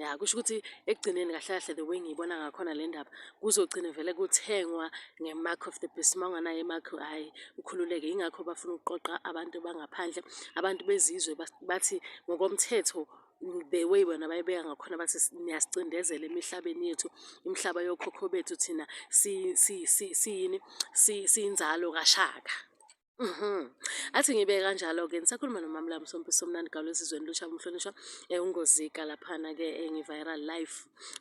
ya kusho ukuthi ekugcineni kahle kahle the way ngiyibona ngakhona le ndaba kuzogcina vele kuthengwa nge-mark of the beast uma unganayo i-mark hhayi ukhululeke yingakho bafuna ukuqoqa abantu bangaphandle abantu bezizwe bathi ngokomthetho the way bona bayibeka ngakhona bathi niyasicindezela emihlabeni yethu imihlaba yokhokho bethu thina siyini siyinzalo kashaka Mhm. Athi ngibeke kanjalo-ke ngisakhuluma nomamla Msompisi Somnandi Gawula esizweni lusha umhlonishwa eh, uNgozika laphana-ke eh, ngi-viral live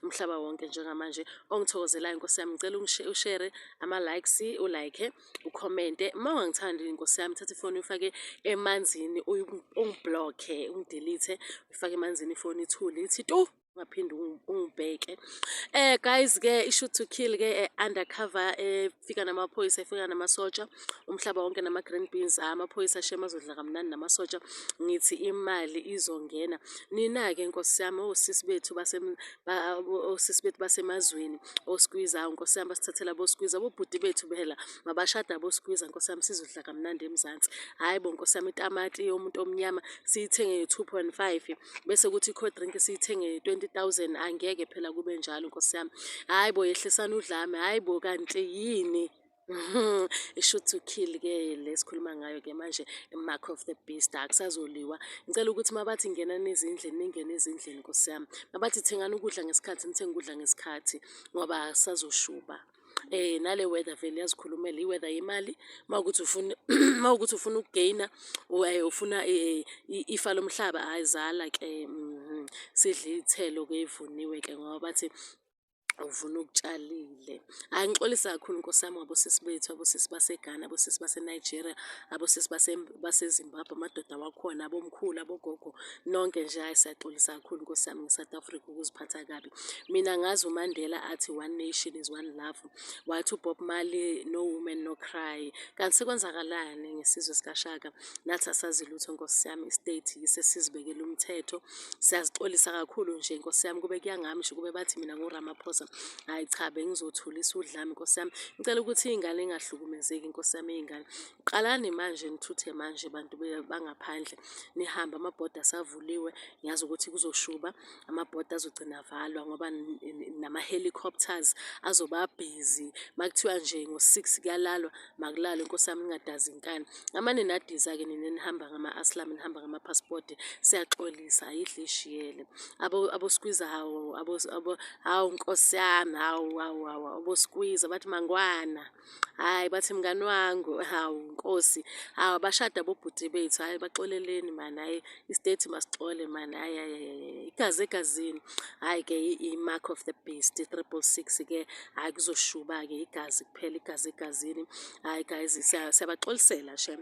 umhlaba wonke njengamanje ongithokozelayo nkosi yami ngicela ungishe- ushere ama-likes ulike ukhomente uma ungangithandi nkosi yami thatha ifoni uyifake emanzini uyi- ungiblokhe ungidelithe uyifake emanzini ifoni ithule ithi tu ungaphinde ungibheke eh guys ke ishoot to kill ke eh, undercover efika eh, namaphoyisa efika namasotsha umhlaba wonke nama green beans ah, amaphoyisa shema azodla kamnandi namasotsha ngithi imali izongena nina ke nkosi yami osisi oh, bethu base osisi oh, bethu basemazweni oskwiza oh, nkosi yami basithathela boskwiza bobhuti bethu behela mabashada boskwiza nkosi yami sizodla kamnandi emzansi hayi bo nkosi yami itamati yomuntu omnyama siyithenge 2.5 bese kuthi i-cold drink siyithenge 20000 angeke phela kube njalo nkosi yami hhayi bo yehlisani udlame hhayi bo kanti yini isho to kill ke le sikhuluma ngayo ke manje mark of the beast akusazoliwa ngicela ukuthi mabathi ngenani ezindlini ningene ezindlini nkosi yami mabathi thengani ukudla ngesikhathi nithenge ukudla ngesikhathi ngoba sazoshuba eh nale weather vele yazikhulumela i-weather yemali uma ukuthi ufuna uma ukuthi ufuna ukugeyina eh, ufuna eh, eh, ifa lomhlaba hayi zala ke mhm. sidle iy'thelo ke ivuniwe ke ngoba bathi uvuna okutshalile hayi ngixolisa kakhulu nkosi yami ngabosisi bethu abosisi baseghana abosisi basenigeria abosisi basezimbabwe amadoda wakhona abomkhulu abogogo nonke nje hayi siyaxolisa kakhulu nkosi yami nge-south africa ukuziphatha kabi mina ngazi umandela athi one nation is one love wathi ubob mali no woman no cry kanti sekwenzakalani ngesizwe sikashaka nathi asazi lutho nkosi yami istate yise sizibekele umthetho siyazixolisa kakhulu nje nkosi yami kube kuyangami nje kube bathi mina nguramaphosa hayi cha bengizothulisa udlami nkosi yami ngicela ukuthi iy'ngane ingahlukumezeki nkosi yami iy'ngane qalani manje nithuthe manje bantu bangaphandle nihambe amabhoda asavuliwe ngiyazi ukuthi kuzoshuba amabhodi azogcina avalwa ngoba nama-helicopters azoba busy makuthiwa nje ngo-six kuyalalwa makulalwe nkosi yami ngingadazi inkani ngamane nadiza-ke nina enihamba ngama-aslam nihamba ngamaphasipoti siyaxolisa ayidle ishiyele aboskwiza hawu hawu nkosi yami hawu hawu hawu aboskwiza bathi mangwana hhayi bathi mngani wangu hawu nkosi hawu abashada bobhuti bethu hhayi baxoleleni mani hhayi istate masixole mani hhayi hhayi igazi egazini hhayi-ke i-mark of the beast i-triple six-ke hhayi kuzoshuba-ke igazi kuphela igazi egazini hhayi guys siyabaxolisela shem